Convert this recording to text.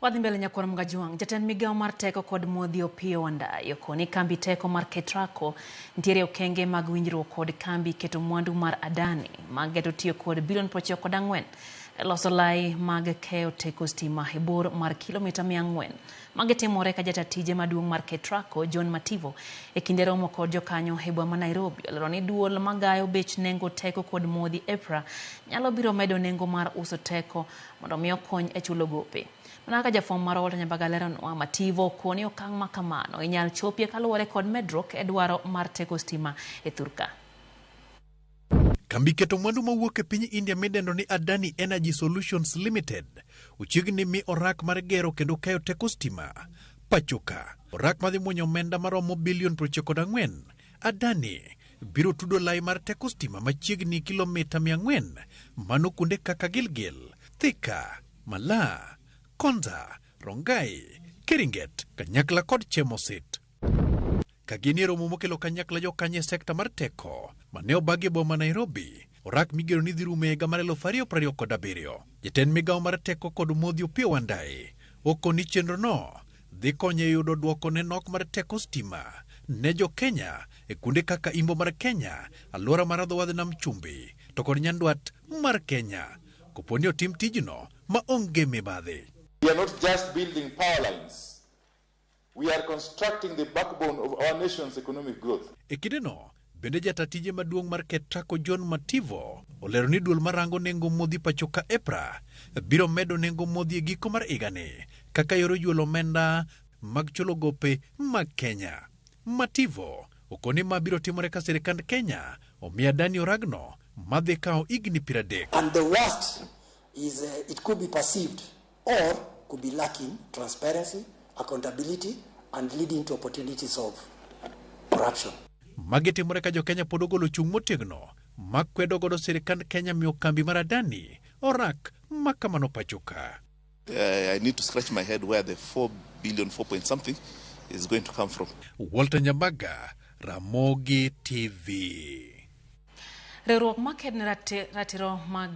Wadhi mbele nyakwar Mgajuang. Jatend migawo mar teko kod modhi Opiyo Wandayi okoni kambi teko mar Ketraco nitiere okenge mag winjruok kod kambi keto mwandu mar Adani ma geto tiyo kod bilion prochiko kod ang'wen e loso lai mag keyo teko stima e bor mar kilomita mia ang'wen. Magi timore ka jata tije maduong' mar Ketraco John Mativo e kinde romo kod jokanyo e boma ma Nairobi olero ni duol magayo bech nengo teko kod modhi EPRA nyalo biro medo nengo mar uso teko mondo mi okony e chulo gope. Mana kaka jafwambo marwa Walter Nyambaga leronwa, Mativo okowo ni okang' ma kamano inyal chopie kaluwore kod medruok e dwaro mar teko stima e thurka. Kambi keto mwandu mawuok e piny India midendo ni Adani Energy Solutions Limited ochiegni mi orak mar gero kendo keyo teko stima pachoka. Orak madhi mwonyo omenda maromo bilion 94 Adani biro tudo lai mar teko stima machiegni kilomita 400 mano kuonde kaka Gilgil, Thika, Malaa, Konza, Rongai, Keringet, Kanyakla kod Chemosit. Ka gin e romo mokelo kanyakla jokanye sekta mar teko mane obagi e boma Nairobi, Orak migero ni dhi rumo e higa mar eluf ariyo prariyo kod abiriyo. Jatend migawo mar teko kod modhi Opiyo Wandayi oko ni chenrono dhi konyo e yudo dwoko ne nok mar teko stima ne jo Kenya e kuonde kaka imbo mar Kenya, alwora mar adhowadh nam chumbi to kod nyandwat mar Kenya kopo ni otim tijno ma onge mibadhi. We are not just building power lines. We are constructing the backbone of our nation's economic growth. E kindeno bende jata tije maduong' mar KETRACO John Mativo olero ni duol marango nengo modhi pachoka EPRA biro medo nengo modhi e giko mar higani kaka yor ojuolo omenda mag chulo gope mag Kenya. Mativo okoni ma biro timore ka sirikand Kenya omiyo Adani oragno madhi kawo higni piero adek. And the worst is uh, it could be perceived or could be lacking transparency, accountability and leading to opportunities of corruption. Magi timore ka jo-Kenya pod ogolo chung' motegno ma kwedo godo sirikand Kenya miyo kambi mar Adani orak ma kamano pachoka. Uh, I need to scratch my head where the 4 billion, 4 point something is going to come from. Walter Nyambaga, Ramogi TV. Riwruok ma ked ne ratiro mag